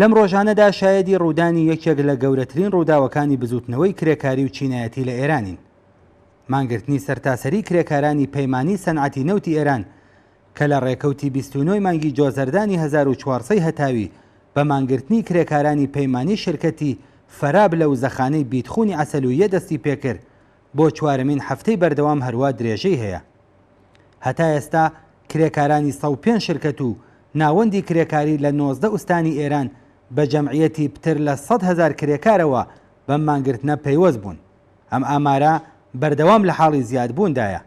لەم ڕۆژانەدا شایەدی ڕوودانی یەکێک لە گەورەترین ڕووداوەکانی بزووتنەوەی کرێکاری و چینایەتی لە ئێرانین. مانگرتنی سەرتاسەری کرێکارانی پەیمانی سەنعەتی نەوتی ئێران کە لە ڕێکەوتی بیست و نۆی مانگی جۆزەردانی هەزار و چوار سەی هەتاوی بە مانگرتنی کرێکارانی پەیمانی شرکەتی فەراب لەو زەخانەی بیتخونی عەسەلوییە دەستی پێکرد بۆ چوارەمین هەفتەی بەردەوام هەروا درێژەی هەیە. هەتا ئێستا کرێکارانی سەد و پێنج شرکەت و ناوەندی کرێکاری لە نۆزدە ئوستانی ئێران بە جەمعیەتی پتر لە سەد هەزار کرێکارەوە بەم مانگرتنە پەیوەست بوون. ئەم ئامارە بەردەوام لە حاڵی زیادبووندایە.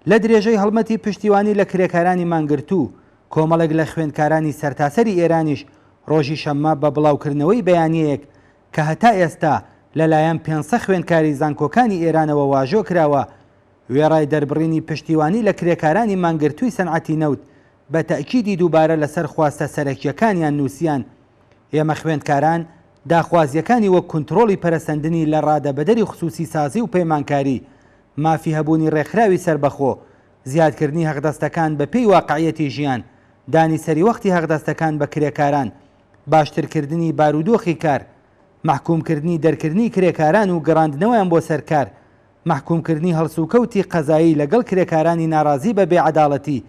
لە درێژەی هەڵمەتی پشتیوانی لە کرێکارانی مانگرتوو، کۆمەڵێک لە خوێندکارانی سەرتاسەری ئێرانیش ڕۆژی شەممە بە بڵاوکردنەوەی بەیانیەیەک کە هەتا ئێستا لە لایەن پێنسە خوێندکاری زانکۆکانی ئێرانەوە واژۆ کراوە، وێڕای دەربڕینی پشتیوانی لە کرێکارانی مانگرتووی سەنعەتی نەوت، بە تەئکیدی دووبارە لە سەر خواستە سەرەکییەکانیان نووسیان، ئێمە خوێندکاران داخوازییەکانی وەک کونترۆڵی پەرەسەندنی لە ڕادەبەدەری خسووسی سازی و پەیمانکاری، مافی هەبوونی ڕێکخراوی سەربەخۆ، زیادکردنی هەقدەستەکان بە پێی واقعییەتی ژیان، دانی سەریوەختی هەقدەستەکان بە کرێکاران، باشترکردنی بارودۆخی کار، مەحکوومکردنی دەرکردنی کرێکاران و گەڕاندنەوەیان بۆ سەر کار، مەحکوومکردنی هەڵسوکەوتی قەزایی لەگەڵ کرێکارانی ناڕازی بە بێعەداڵەتی،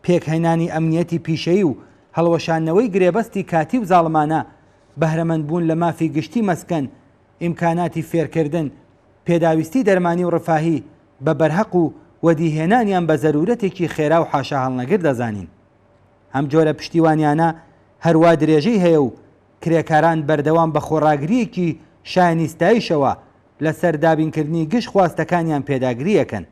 پێکهێنانی ئەمنییەتی پیشەیی و هەڵوەشاندنەوەی گرێبەستی کاتی و زاڵمانە، بەهرەمەندبوون لە مافی گشتی مەسکەن، ئیمکاناتی فێرکردن، پێداویستی دەرمانی و ڕفاهی بە بەرهەق و وەدیهێنانیان بە زەروورەتێکی خێرا و حاشاهەڵنەگر دەزانین. ئەم جۆرە پشتیوانیانە هەروا درێژەی هەیە و کرێکاران بەردەوام بە خۆڕاگرییەکی شایانی ستایشەوە لەسەر دابینکردنی گشت خواستەکانیان پێداگری ئەکەن.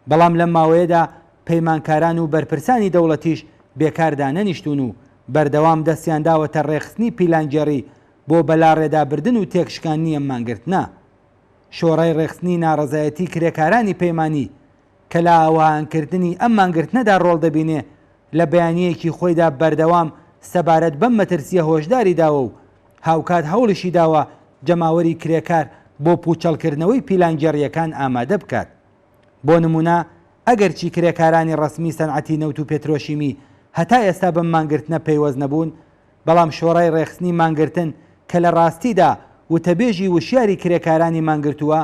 بەڵام لەم ماوەیەدا پەیمانکاران و بەرپرسانی دەوڵەتیش بێکار دانەنیشتوون و بەردەوام دەستیان داوەتە ڕێکخستنی پیلانگێڕی بۆ بەلاڕێدابردن و تێکشکاندنی ئەم مانگرتنە. شۆڕای ڕێکخستنی ناڕەزایەتی کرێکارانی پەیمانی کە لە ئاوهانکردنی ئەم مانگرتنەدا ڕۆڵ دەبینێ، لە بەیانییەکی خۆیدا بەردەوام سەبارەت بەم مەترسییە هۆشداری داوە و هاوکات هەوڵیشی داوە جەماوەری کرێکار بۆ پووچەڵکردنەوەی پیلانگێڕییەکان ئامادە بکات. بۆ نموونە ئەگەرچی کرێکارانی ڕەسمی سەنعەتی نەوت و پێترۆشیمی هەتا ئێستا بەم مانگرتنە پەیوەست نەبوون، بەڵام شۆرای ڕێکخستنی مانگرتن کە لە ڕاستیدا وتەبێژی وشیاری کرێکارانی مانگرتووە،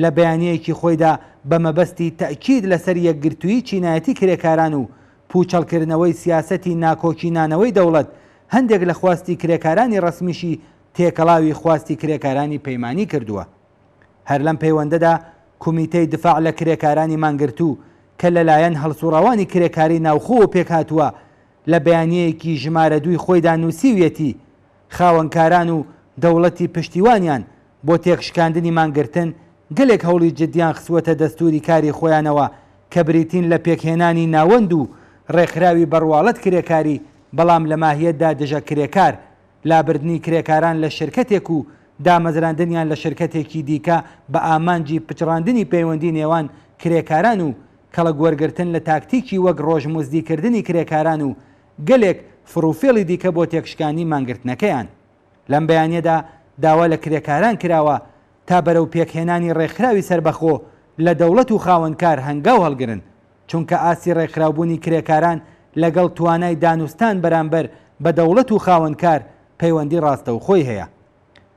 لە بەیانییەکی خۆیدا بە مەبەستی تەئکید لەسەر یەکگرتوویی چینایەتی کرێکاران و پووچەڵکردنەوەی سیاسەتی ناکۆکی نانەوەی دەوڵەت، هەندێک لە خواستی کرێکارانی ڕەسمیشی تێکەڵاوی خواستی کرێکارانی پەیمانی کردووە. هەر لەم پەیوەندەدا کومیتەی دفاع لە کرێکارانی مانگرتوو کە لەلایەن هەڵسوڕاوانی کرێکاری ناوخۆوە پێکهاتووە، لە بەیانییەکی ژمارە دووی خۆیدا نووسیویەتی، خاوەنکاران و دەوڵەتی پشتیوانیان بۆ تێکشکاندنی مانگرتن، گەلێک هەوڵی جددیان خستووەتە دەستووری کاری خۆیانەوە کە بریتین لە پێکهێنانی ناوەند و ڕێکخراوی بەڕواڵەت کرێکاری بەڵام لە ماهیەتدا دژە کرێکار، لابردنی کرێکاران لە شرکەتێک و دامەزراندنیان لە شرکەتێکی دیکە بە ئامانجی پچڕاندنی پەیوەندی نێوان کرێکاران و کەڵک وەرگرتن لە تاکتیکی وەک ڕۆژمزدیکردنی کرێکاران و گەلێک فڕوفێڵی دیکە بۆ تێکشکاندنی مانگرتنەکەیان. لەم بەیانیەدا داوا لە کرێکاران کراوە تا بەرەو پێکهێنانی ڕێکخراوی سەربەخۆ لە دەوڵەت و خاوەنکار هەنگاو هەڵگرن، چونکە ئاستی ڕێکخراوبوونی کرێکاران لەگەڵ توانای دانوستان بەرامبەر بە دەوڵەت و خاوەنکار پەیوەندی ڕاستەوخۆی هەیە.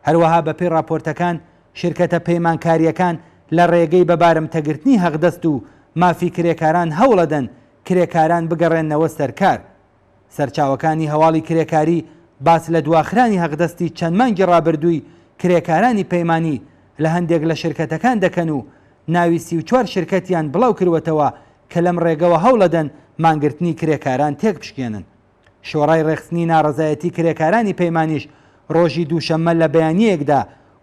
هەروەها بەپێی ڕاپۆرتەکان شیرکەتە پەیمانکارییەکان لە ڕێگەی بەبارمتەگرتنی هەقدەست و مافی کرێکاران هەوڵەدەن کرێکاران بگەڕێننەوە سەر کار. سەرچاوەکانی هەواڵی کرێکاری باس لە دواخرانی هەقدەستی چەند مانگی ڕابردووی کرێکارانی پەیمانی لە هەندێک لە شرکەتەکان دەکەن و ناوی سی و چوار شرکەتیان بڵاوکروەتەوە کە لەم ڕێگەوە هەوڵەدەن مانگرتنی کرێکاران تێکبشکێنن. شۆڕای ڕێکخستنی ناڕەزایەتی کرێکارانی پەیمانیش ڕۆژی دووشەممە لە بەیانییەکدا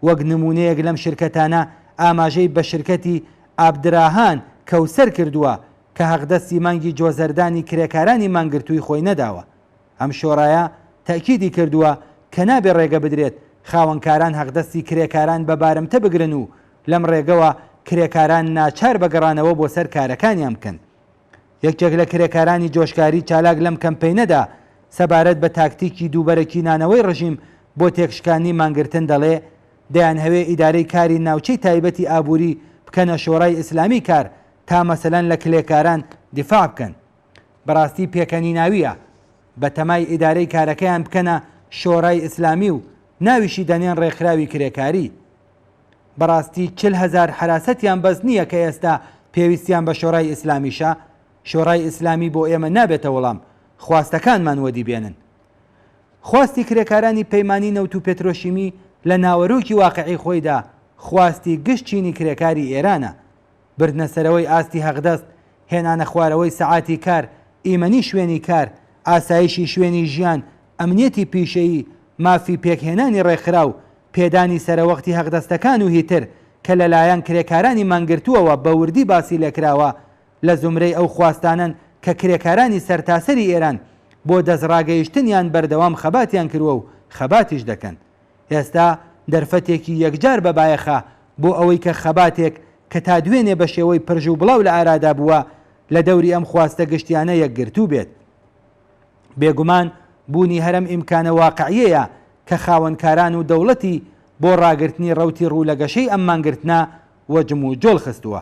وەک نموونەیەک لەم شرکەتانە ئاماژەی بە شرکەتی ئابدراهان کەوسەر کردووە کە حەقدەستی مانگی جۆزەردانی کرێکارانی مانگرتووی خۆی نەداوە. ئەم شۆرایە تەئکیدی کردووە کە نابێ ڕێگە بدرێت خاوەنکاران حەقدەستی کرێکاران بە بارمتە بگرن و لەم ڕێگەوە کرێکاران ناچار بە گەڕانەوە بۆ سەر کارەکانیان بکەن. یەکێک لە کرێکارانی جۆشکاری چالاک لەم کەمپەینەدا سەبارەت بە تاکتیکی دووبەرەکینانەوەی ڕژیم بۆ تێکشکاندنی مانگرتن دەڵێ، دەیانهەوێ ئیدارەی کاری ناوچەی تایبەتی ئابووری بکەنە شۆرای ئیسلامی کار تا مەسەلەن لە کلێکاران دیفاع بکەن بەراستی پێکەنیناویە بە تەمای ئیدارەی کارەکەیان بکەنە شۆرای ئیسلامی و ناویشی دەنێن رێکخراوی کرێکاری بەراستی چل هەزار حەراسەتیان بەس نیە کە ئێستا پێویستیان بە شۆرای ئیسلامیشە شۆرای ئیسلامی بۆ ئێمە نابێتە وەڵام خواستەکانمان وەدی بێنن خواستی کرێکارانی پەیمانی نەوت و پێترۆشیمی لە ناوەرۆکی واقعی خۆیدا خواستی گشت چینی کرێکاری ئێرانە بردنە سەرەوەی ئاستی هەقدەست، هێنانە خوارەوەی سەعاتی کار، ئیمەنی شوێنی کار، ئاسایشی شوێنی ژیان، ئەمنیەتی پیشەیی، مافی پێکهێنانی ڕێکخراو، پێدانی سەرەوەختی هەقدەستەکان و هیتر کە لەلایەن کرێکارانی مانگرتووەوە بە وردی باسی لێکراوە، لە زومرەی ئەو خواستانەن کە کرێکارانی سەرتاسەری ئێران بۆ دەستڕاگەیشتنیان بەردەوام خەباتیان کرووە و خەباتیش دەکەن. ئێستا دەرفەتێکی یەکجار بە بایەخە بۆ ئەوەی کە خەباتێک کە تا دوێنێ بە شێوەی پرژ و بڵاو لە ئارادا بووە لە دەوری ئەم خواستە گشتیانە یەکگرتوو بێت. بێگومان بوونی هەرەم ئیمکانە واقعیەیە کە خاوەنکاران و دەوڵەتی بۆ ڕاگرتنی ڕەوتی ڕوو لە گەشەی ئەم مانگرتنە وە جموجۆڵ خستووە.